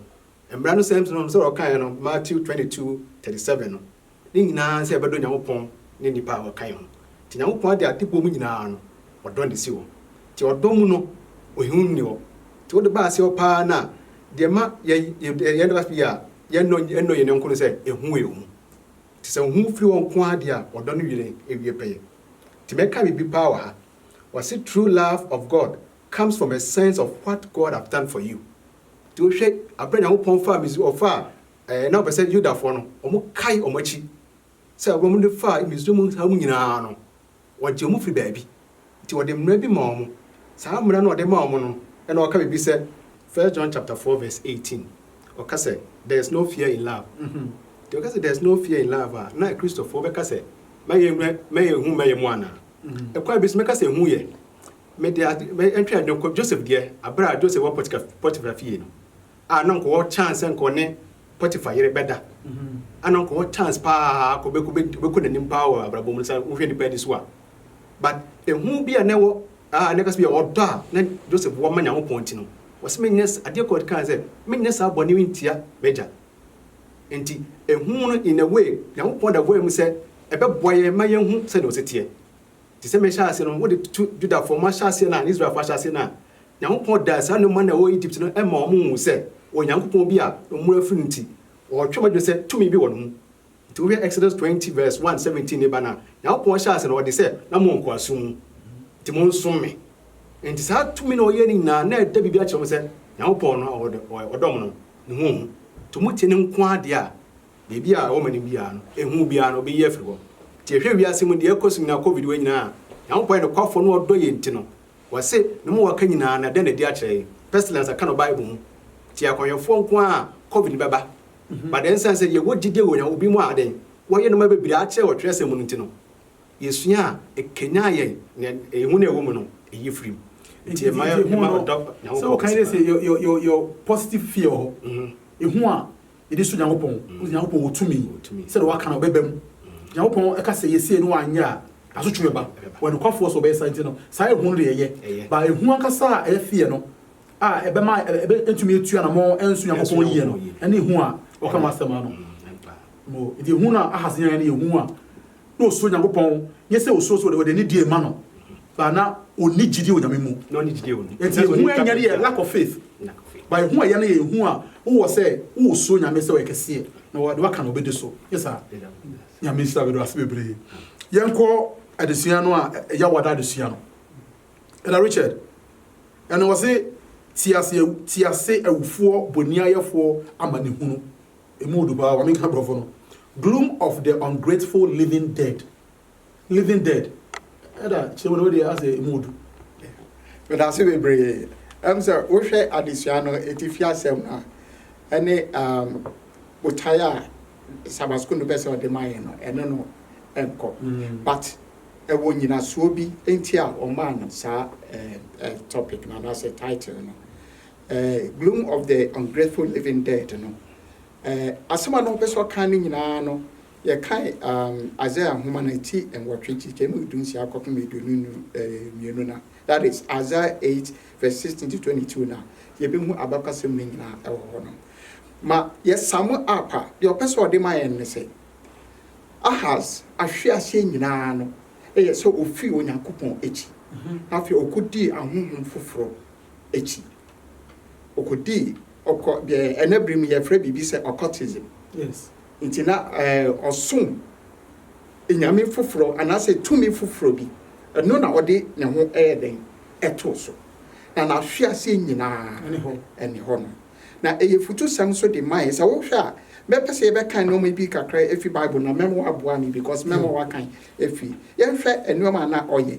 Mmara no sɛm no, sɛdeɛ ɔkaeɛ no, Matthew twenty two thirty seven no, ne nyinaa ne sɛ yɛbɛdɔ Nyankopɔn ne nnipa a ɔka yɛn ho. Nti Nyankopɔn ade ade bɔ mu nyinaa no, ɔdɔ na ɛsi hɔ. Nti ɔdɔ mu no, ohiu nni hɔ. Nti wode ba aseɛ hɔ pa ara no a, deɛ ɛma yɛ yɛ yɛn da fie a yɛnnɔ yɛnnɔ yɛn yɔnko no sɛ ehu yɛ hu. Nti sɛ hu firi hɔ nko ara deɛ a, ɔdɔ no yere awie pɛyɛ. Nti mɛka biribi pa ara wɔ ha. Wɔse true love of God comes from a sense of what God have done for you. Nti wohwɛ aberɛ a Nyankopɔn faa Misri, ɔfaa ɛɛ na ɔpɛ sɛ Yudafoɔ no wɔn kae wɔn akyi sɛ aberɛ a wɔn de faa Misri mu nsaa mu nyinaa no wɔgyee wɔn firi baabi nti ɔde mmara bi maa wɔn, saa mmara no a ɔde maa wɔn no ɛna ɔka biribi sɛ, First John chapter four verse eighteen ɔka sɛ there is no fear in love, nti ɔka sɛ there is no fear in love a na Akristofoɔ bɛka sɛ mɛyɛ mɛ yɛnhu mɛyɛ mu anaa? Ɛkwan bi so mɛka sɛ ɛhu yɛ, Mede ade, me, atwa adwene kɔ Joseph deɛ, aberɛ a Joseph wɔ Potika, Potifera fie no, a na nka ɔwɔ chance sɛ nka ɔne Potifa yere bɛda, a na nka ɔwɔ chance paa kɔ bɛ, bɛ, bɛkɔ n'anim paa wɔ abrabɔ mu no, sɛ wohwɛ nnipa ani so a. But ehu bi a na ɛwɔ, a na ɛka sɛ bia ɔdɔ a na Joseph wɔ ma Nyankopɔn nti no, ɔse menyɛ, adeɛ koro a ɔde kae sɛ, menyɛ saa bɔne yi ntia m'agya. Enti ehu no in a way, Nyankopɔn da voa mu sɛ ɛbɛboa yɛn ma yɛahu sɛdeɛ ɔse teɛ. Te sɛ mehyɛɛ ase no, wode to Judafoɔ mo ahyɛaseɛ no a, ne Israelfoɔ ahyɛaseɛ no a, Nyankopɔn daa saa nnomaa no a ɛwɔ Egypt no ma wɔhuu sɛ wɔwɔ Nyankopɔn bi a wɔn afiri no nti, wɔretwe wɔn adwene sɛ tumi bi wɔ ne ho. Nti wohwɛ Exodus twenty verse one, seventeen no ba no a, Nyankopɔn hyɛɛ ase no, ɔde sɛ, Na mo nkoasom mu, nti monsom me. Nti saa tumi na ɔyɛɛ no nyinaa, na ɛda biribi akyerɛ mo sɛ Nyankopɔn no a ɔdɔ mo no, ne ho ɔhu. Nti motie ne nko ara deɛ a, Baabi a wɔma no biara no, ehu obiara no, obeyi afiri hɔ. Nti ehwɛ wiase mu deɛ ɛrekɔ so nyinaa, Covid wei nyinaa, Nyankopɔn yɛ nokwafo na ɔdɔ yɛn nti no, wɔse, Ne mowɔ ka nyinaa na dɛn na adi akyerɛ yɛn? Pestilence a ɛka no Bible mu. Nti akɔnyɛfoɔ nko ara a Covid no bɛba. But ɛnsiane sɛ yɛwɔ gyidie wɔ Nyankopɔn, binom a adɛn, wɔayɛ nnoɔma bebree akyerɛ wɔ twerɛsɛm mu no nti no, yɛsua a, ɛkanyan yɛn na ehu no a ɛwɔ mu no, ɛyi firi mu. Nti ɛma yɛdɔ Nyankopɔn kɛse paa. Sɛ wɔka sɛ your positive fear wɔ hɔ, ehu a yɛde su Nyankopɔn. Wosi Nyankopɔn wɔ tumi sɛdeɛ Waka no, ɔbɛba mu. Nyankopɔn ka sɛ yɛsie no anyɛ a, asotwe bɛba. Ɔyɛ nokwafoɔ sɛ ɔbɛyɛ saa nti no, saa ehu no deɛ ɛyɛ. But ehu ankasa a ɛyɛ fear no a ɛbɛma yɛntumi atu anamɔn ansu Nyankopɔn yie no, ɛne ehu a Ɔka ho asɛm ha no. Nti ehu no a Ahas nyaeɛ no yɛ ehu a na osuro Nyankopɔn, nyɛ sɛ osuro sɛ wɔde anidie rema no, but na onni gyidie wɔ Nyame mu. Enti ehu a ɛnyɛ no yɛ lack of faith, but ehu a ɛyɛ no yɛ ehu a wowɔ sɛ wosuro Nyame sɛ ɔyɛ kɛseɛ, na deɛ waka no ɔbɛdi so, nyɛ saa? Nyame nhyira, meda wo ase bebree. Yɛnkɔ adesua no a ɛyɛ awɔda adesua no. Ɛda Richard, ɛno wɔse, Te ase, te ase awufoɔ boniayɛfoɔ amanehunu. Emu ɔdu paa, ma me nka brɔfo no, Gloom of the Ungrateful Living Dead, Living Dead, ɛna kyerɛ mu no wodeɛ asɛ emu ɔdu. Medase bebree. Ɛm sɛ wohwɛ adesua no atifi asɛm no a, ɛne um, botae a Sabbath School no pɛ sɛ ɔde ma yɛn no, ɛne no nkɔ. Mm. But ɛwɔ nyinasoɔ bi nti a ɔmaa no saa eh, eh, topic no anaasɛ title no. Gloom of the Ungrateful Living Dead no. Asɛm a na ɔpɛ sɛ ɔka no nyinaa no, yɛkae Isaiah nhoma no ti nwɔtwe, nkyekyɛm mu du nsia kɔpem aduonu mmienu no a, that is, Isaiah eight verse sixteen to twenty two no a, yɛbɛhu abakɔsɛm no nyinaa wɔ hɔ no. Ma yɛsum up a, deɛ ɔpɛ sɛ ɔde ma yɛn ne sɛ, Ahas ahwe aseɛ nyinaa no yɛ sɛ ɔfii Onyankopɔn akyi, na afei ɔkɔdii ahonhom foforɔ akyi. Ɔkɔdii ɔkɔ deɛ ɛnnɛ berɛ mu yɛfrɛ biribi sɛ occultism. Yes. Nti na ɛɛ ɔsom nyame foforɔ anaasɛ tumi foforɔ bi. Ɛno na ɔde ne ho ɛyɛ dɛn ɛtoo so. Na n'ahweaseɛ nyinaa Ɛne hɔ. ɛne hɔ no. Na ɛyɛ futusɛm nso de ma yɛn. Sɛ wohwɛ a, mɛpɛ sɛ yɛbɛkan nnoɔma bi kakra afi Bible mu na mɛma woaboa me because mɛma woakan afi. Yɛnhwɛ nnoɔma a na ɔyɛ.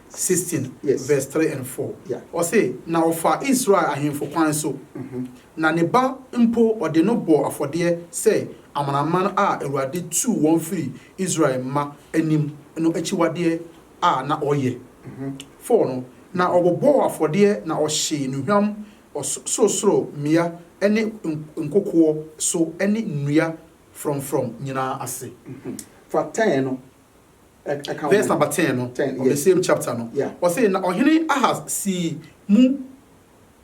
sixteen verse three and four, ɔse, Na ɔfaa Israel ahemfo kwan so, na ne ba mpo ɔde no bɔɔ afɔdeɛ sɛ amanaman a Awurade tuu wɔn firii Israel mma anim no akyiwadeɛ a na ɔyɛ. Four no, na ɔbobɔɔ afɔdeɛ na ɔhyee nnuhwam ɔsorosoro mmea ne nkokoɔ so ne nnua frɔmfrɔm nyinaa ase. Fa ten no. Verse number ten no, of the same chapter no, ɔse, Na ɔhene Ahas sii mu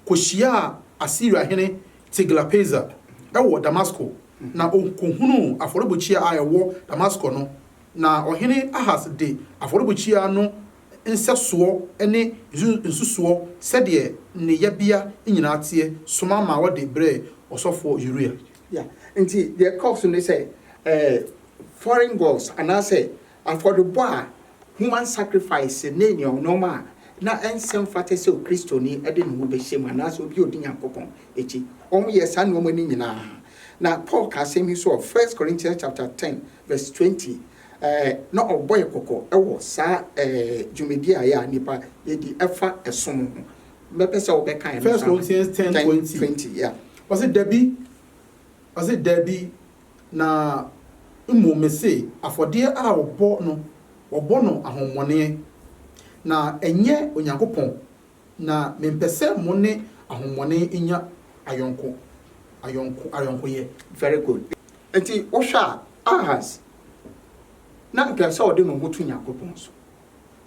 kɔhyiaa Asiria hene Tiglath-Pileser wɔ Damasko, na ɔkɔhunuu afɔrebukyia a ɛwɔ Damasko no, na ɔhene Ahas de afɔrebukyia no nsɛsoɔ ne nsusuo sɛdeɛ ne yɛbea nyinaa teɛ soma maa wɔde brɛɛ ɔsɔfoɔ Uria. Nti deɛ ɛkɔɔ so ne sɛ, foreign gods, anaasɛ afɔrebɔ a human sacrifice ne nneɛma a na ɛnsɛ mfata sɛ Kristoni de ne ho bɛhyɛ mu anaasɛ obi a odi Nyankopɔn akyi. Wɔyɛɛ saa nneɛma no nyinaa. Na Paul ka asɛm yi nso wɔ First Corinthians chapter ten verse twenty, ɛɛ, na ɔbɔ yɛn kɔkɔ wɔ saa, ɛɛ, dwumadi a yɛn a nnipa yɛdi ɛfa ɛsom ho. Mɛpɛ sɛ wobɛka ɛno nso ama me. First Corinthians ten twenty. Twenty, yeah. Ɔse, Dabi, ɔse, Dabi. Na mmom mese, afɔdeɛ a wɔbɔ no, wɔbɔ no ahommɔneɛ, na ɛnyɛ Onyankopɔn, na mempɛ sɛ mo ne ahommɔne nya ayɔnko, ayɔnko, ayɔnkoyɛ. Very good. Enti wohwɛ a, Ahas, na anka ɛsɛ sɛ ɔde ne ho to Onyankopɔn so,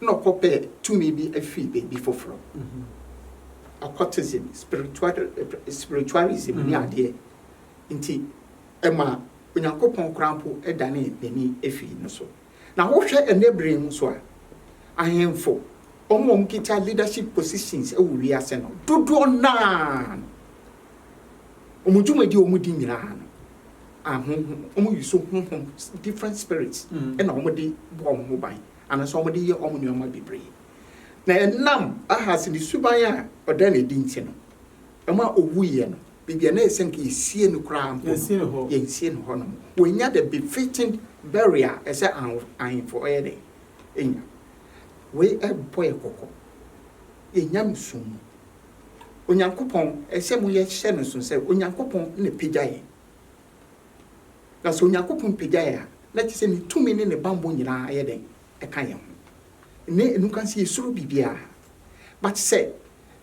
na ɔkɔpɛ tumi bi firi baabi foforɔ, occultism, spiritual, spiritualism ne adeɛ. nti, ɛma Onyankopɔn koraa mpo danee n'ani fii no so. Na wohwɛ ɛnnɛ bere yi nso a, ahemfo, wɔn a wɔkita leadership positions wɔ wiase no, dodoɔ no ara no, wɔn dwumadi a wɔdi nyinaa no, ahonhom, wɔyi so honhom, different spirits, na wɔde bɔ wɔn ho ban, anaasɛ wɔde yɛ wɔn nneɛma bebree. Na ɛnam Ahas ne suban a ɔda no adi nti no, ɛma ɔwuiɛ no, baabi a na ɛsɛ nka yɛsie no koraa mpo no, yɛnsie no hɔnom. Wɔannya the befitting burial a ɛsɛ ahemfo ɔyɛ dɛn? Ɛnya. Wei ɛrebɔ yɛ kɔkɔ. Yɛn nyamesom mu. Onyankopɔn, ɛsɛ mo yɛhyɛ no nso sɛ Onyankopɔn na apagya yɛn. Na sɛ Onyankopɔn pagya yɛn a, na kyerɛ sɛ ne tumi ne ne bammɔ nyinaa yɛ dɛn? Ɛka yɛn ho. Nnɛ ɛnuka sɛ yɛsuro biribiara. But sɛ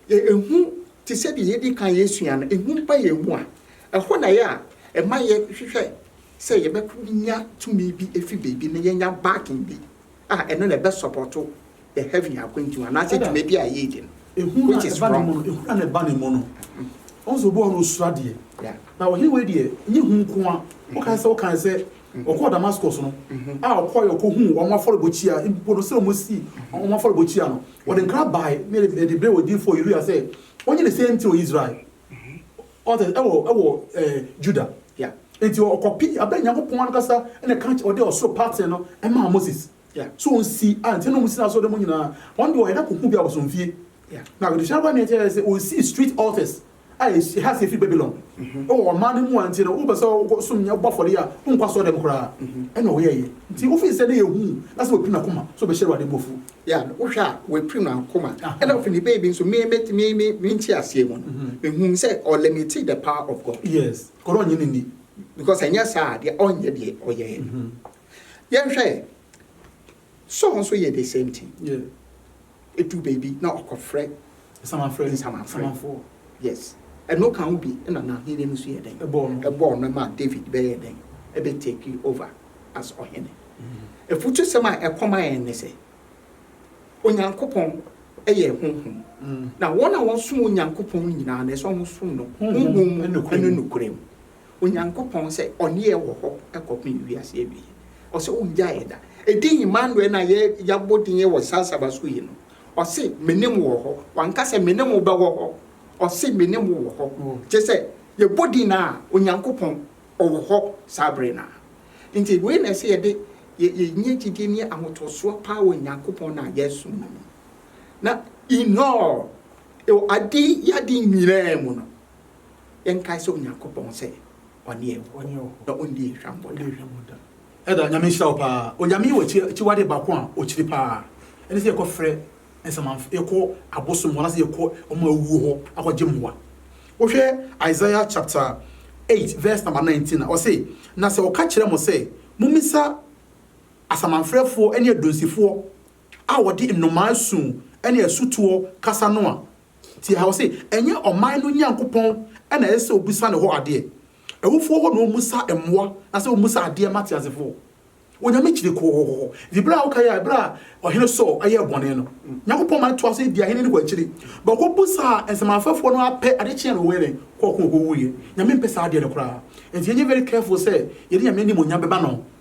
Ehu te sɛ deɛ yɛadi kan asua no, ehu ba yɛn mu a, ɛhɔ na ɛyɛ a ɛma yɛhwehwɛ sɛ yɛbɛnya tumi bi afi baabi na yɛanya backing bi a ɛno na ɛbɛsɔpɔto yɛn heaven akwantu anaasɛ dwumadi a yɛredi no, Ehu no a which is ɛba ne mu wrong. no, ehu no a na ɛba ne mu no, ɔhu sɛ obi wɔ hɔ a na ɔsuro adeɛ. Yeah. Na ɔhene wei deɛ, ɛnyɛ ehu nko ara, wokae sɛ wokae sɛ Ɔkɔɔ Damascus no, a ɔkɔe ɔkɔhuu wɔn afɔrebɔkyia, mpo no sɛ wɔasi wɔn afɔrebɔkyia no, ɔde nkra bae ne de brɛɛ odiyifoɔ Uria sɛ ɔnyɛ the same thing wɔ Israel, ɔte sɛ ɛwɔ ɛwɔ ɛɛ Juda. Yeah. Enti ɔkɔpii abɛn Nyankopɔn ankasa na ɛka ɔde ɔsoro paten no ɛmaa Moses. Yeah. So ɔnsi a nti na wɔn si n'asɔre dɛm nyinaa. Wɔn de wɔyɛ na kɔhu bi abosomfie. Yeah. Na adehyɛ abɔ ne ɛkyɛ sɛ ɔnsii street altars a esi ha sɛ efi Babilon wɔ ɔman no mu a ntsi no wopɛ sɛ ɔkɔsom nyame bɔ afɔre yi a, onnkɔ asɔrdɛm koraa. Nna ɔyɛe ntsi ofi nsɛm no yɛ hu na sɛ oepirim n'akoma so bɛhyɛ Ewuradze bo efuw. Yeah, no, wohwɛ a oepirim n'akoma. Nna ofi ne baby nso, me, me, me, me, me ntseasee mu no, mehun sɛ ɔlimitii the power of God. Yes, kor ɔnye no nnyi. Because annyɛ saa a deɛ ɔnnyɛ deɛ ɔyɛɛ no. Yɛnhwɛ. Saul nso yɛ the same thing. Edu baabi na ɔkɔfrɛ nsamanfrɛ. Yes, ɛno ka ho bi na n'ahenni no nso yɛɛ dɛn? Ɛbɔɔ no maa David bɛyɛɛ dɛn? Ɛbɛ take over as ɔhene. Afutusɛm a ɛkɔ ma yɛn ne sɛ, Onyankopɔn yɛ honhom, na wɔn a wɔsom Onyankopɔn no nyinaa no ɛsɛ sɛ wɔsom no honhom mu ne nokorɛ mu. Onyankopɔn sɛ ɔne yɛn wɔ hɔ kɔpem wiase awieɛ. Ɔse ɔngya yɛn da. Ɛdin Emmanuel no a yɛabɔ din wɔ saa Saba so yi no, ɔse mene mo wɔ hɔ. Wanka sɛ mene mo bɛwɔ hɔ. Ɔse mene mo wɔ hɔ. Kyerɛ sɛ yɛbɔ din no a, Onyankopɔn ɔwɔ hɔ saa berɛ no ara. Nti wei na ɛsɛ yɛde yɛnya gyidie ne ahotosoɔ paa wɔ Nyankopɔn no a yɛresom no mu. Na in all, wɔ ade yɛ ade nyinaa mu no, Yɛnkae sɛ Onyankopɔn sɛ ɔne yɛn wɔ hɔ na ɔnni yɛn hwammɔ da. Ɛda, Nyame nhyira wo paa. Onyame yi wɔ akyiwade baako a ɔkyiri paa. Ɛne sɛ yɛkɔ frɛ nsamanfrɛ, yɛkɔ abosom hɔ anaasɛ yɛkɔ wɔn a awuo hɔ akɔgye mmoa. Wohwɛ Isaiah chapter eight verse number nineteen a, ɔse, Na sɛ wɔka kyerɛ mo sɛ, Momisa asamanfrɛfoɔ ne adunsifoɔ a wɔde nnomaa su ne asutoɔ kasa no a, Tie ha, ɔse, Ɛnyɛ ɔman no Nyankopɔn na ɛsɛ sɛ obisa ne hɔ adeɛ? Awufoɔ hɔ na wɔmmisa mmoa, na sɛ wɔmmisa adeɛ mma teasefoɔ? Onyame kyiri kɔkɔkɔkɔ. Nti berɛ a wokaeɛ a, berɛ a Ɔhene Saul yɛɛ bɔne no, Nyankopɔn ma no toa so di ahene no kɔ akyiri. But ɔkɔbusaa nsamanfrɛfoɔ no ara pɛ, ade kyeeɛ no ɔkɔyɛ dɛn? Ɔkɔɔ ko ɔkɔwuiɛ. Nyame mpɛ saa adeɛ no koraa. Nti yɛnyɛ very careful sɛ yɛde Nyame animuonyam bɛma no.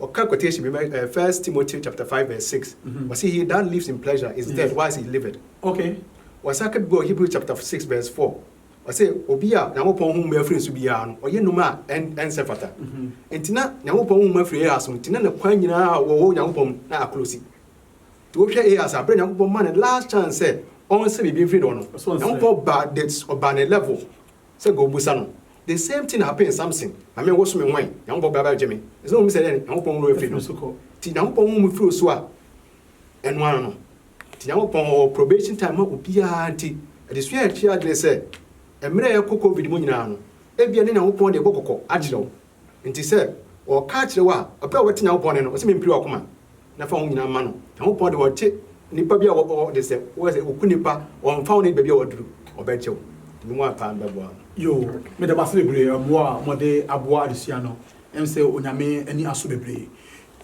Ɔka quotation bi ma yɛn, First Timothy chapter five verse six, ɔse, He that lives in pleasure is dead whilst he liveth. Ɔsan ka bi wɔ Hebrew chapter six verse four, ɔse, Obi a Nyankopɔn ho mmu afiri ne so biara no, ɔyɛ nnwuma a ɛnsɛ fata. Enti na Nyankopɔn ho mmu afiri Ahas ho, enti na ne kwan nyina ara a ɔwɔ wɔ Nyankopɔn mu no aklosi. Nti wohwɛ Ahas a, berɛ a Nyankopɔn maa no last chance sɛ ɔnsɛ biribi mfiri ne hɔ no, Nyankopɔn baa ne level sɛ nka ɔbisa no. The same thing happen Samson na me wo so me ho ɛ Nyankopɔn bra bɛ gye me ɛsɛ na omi sɛ dɛ Nyankopɔn wura afiri no ti Nyankopɔn wo me firi osu a ɛno ara no ti Nyankopɔn ɔwɔ probation time ma obiara nti adesua a ɛtwe adwene sɛ ɛmmerɛ a ɛkɔ covid mu nyinaa no ɛbia ne Nyankopɔn de bɔ kɔkɔ akyerɛ wo nti sɛ ɔɔka akyerɛ wo a ɔpɛ a wobɛte Nyankopɔn nne no ɔsɛ me mpiri wakoma. na fa wo nyinaa ma no. Nyankopɔn de ɔte nipa bi a ɔde sɛ woyɛ sɛ oku nipa ɔnfa wo ne baabi a waduru ɔbɛgye wo nti mo a paa mbɛboa no. Yoo meda mo ase bebree ɛboa a mo de aboa adesua no ɛm sɛ onyame ani aso bebree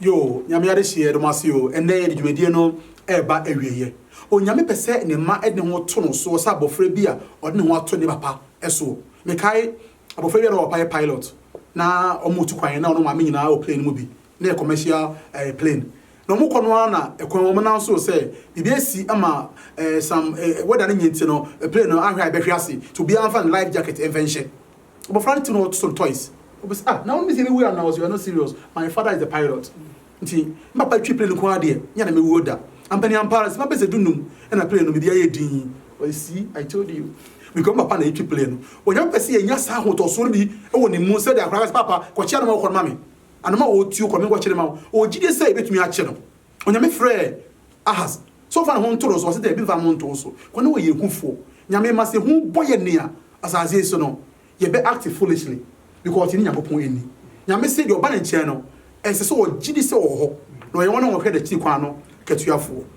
yoo nyame adehyeɛ yɛde mo ase oo ɛnɛ yɛde dwumadie no ɛɛba awieɛ onyame pɛ sɛ ne mma ɛde ne ho to no soɔ sɛ abɔfra bi a ɔde ne ho ato ne papa soɔ mekae abɔfra bi a na ɔpapa yɛ pilot na ɔmo tu kwan na ɔno maame nyinaa wɔ plane no mu bi na ɛyɛ commercial eh, plane. Na wɔn kɔ no ara na ɛkwan wɔn nan so sɛ biribi asi ama eh, sam eh, wɛda no nye nti no eh, plane no ahwɛ a ɛbɛhwe ase nti obiara mfa ne life jacket mfa nhyɛ. Abɔfra no tim na ɔtoto no toys. Obisa ah na wɔn sɛ ebewu anaa ɔsɛ you are not serious my father is the pilot nti me papa twi plane nko ara deɛ nyɛ na mewuo da. Ampani ampa ara sima bɛsɛ du num ɛna plane no biribi ayɛ din. Ɔyɛ see I told you mekɔ papa na etwi plane no. Onyame pɛ sɛ yɛnya saa ahotɔsoɔ no bi wɔ ne mu sɛdeɛ akwadaa ka sɛ papa kɔkyea no ma wokɔ no ma me. Anoma a ɔretuo kɔ no, menkɔkye no mma wo. Ɔwɔ gyidie sɛ yɛbɛtumi akye no. Onyame frɛɛ Ahas sɛ ɔmfa ne ho nto no so, ɔse daabi mfa me ho nto wo so, kɔ na wɔyɛ ahufoɔ. Nyame ma sɛ hu bɔ yɛn a, asase yi so no, yɛbɛ act foolishly because yɛnni Nyankopɔn anni. Nyame se deɛ ɔba ne nkyɛn no, ɛsɛ sɛ ɔgye di sɛ ɔwɔ hɔ, na ɔyɛ wɔn a wɔhwɛ n'akyiri kwan no katuafoɔ.